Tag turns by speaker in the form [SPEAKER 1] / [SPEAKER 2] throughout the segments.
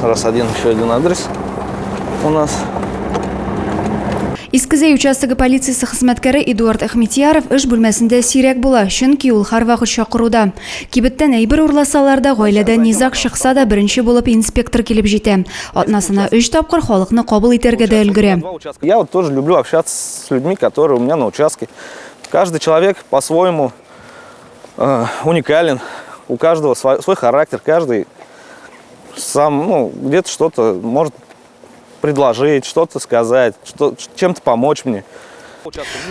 [SPEAKER 1] Раз один, еще один адрес у нас.
[SPEAKER 2] Искезәй участогы полициясе хезмәткәре Эдуард Әхмитьяров эш бүлмәсендә сирәк була, чөнки ул һәрвакыт чакыруда. Кибеттән әйбер урласалар да, гаиләдә низаг чыкса да, беренче булып инспектор килеп җитә. Атнасына өч тапкыр халыкны кабул итәргә дә өлгерә. Я вот тоже люблю
[SPEAKER 1] общаться с людьми, которые у меня на участке. Каждый человек по-своему э, уникален, у каждого свой, свой характер, каждый Сам, ну, где-то что-то может предложить, что-то сказать, что, чем-то помочь мне.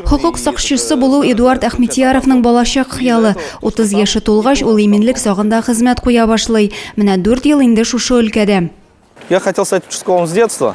[SPEAKER 1] Хокук
[SPEAKER 2] сакчысы булу Эдуард Ахметияровның балачак хыялы. 30 яше тулгач, ул иминлек сагында хезмәт куя башлый. Менә 4 ел инде шушы өлкәдә. Я хотел
[SPEAKER 1] стать участковым с детства.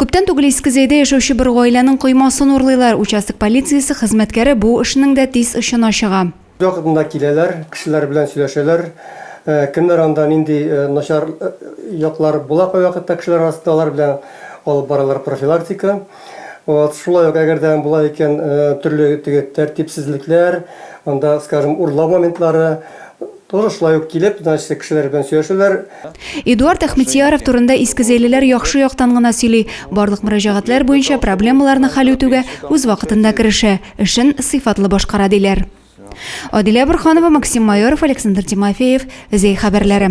[SPEAKER 2] Күптән түгел Иске Зәйдә яшәүче бер гаиләнең коймасын урлыйлар. Участок полициясе хезмәткәре бу эшнең дә тиз очына чыга. Вакытында киләләр,
[SPEAKER 3] кешеләр белән сөйләшәләр. Кемнәр анда, нинди начар яклары була кайвакытта кешеләр арасында, алар белән алып баралар профилактика. Вот. Шулай ук, әгәр дә була икән, төрле теге тәртипсезлекләр, анда, скажем, урлау моментлары, Тоже шулай ук килеп, значит, кешеләр белән сөйләшәләр. Эдуард
[SPEAKER 2] Әхмедсияров турында искезәйлеләр яхшы яктан гына сөйли, барлык мөрәҗәгатьләр буенча проблемаларны хәл үтүгә үз вакытында керешә, эшен сыйфатлы башкара, диләр. Адилә Борханова, Максим Майоров, Александр Тимофеев, Зәй хәбәрләре.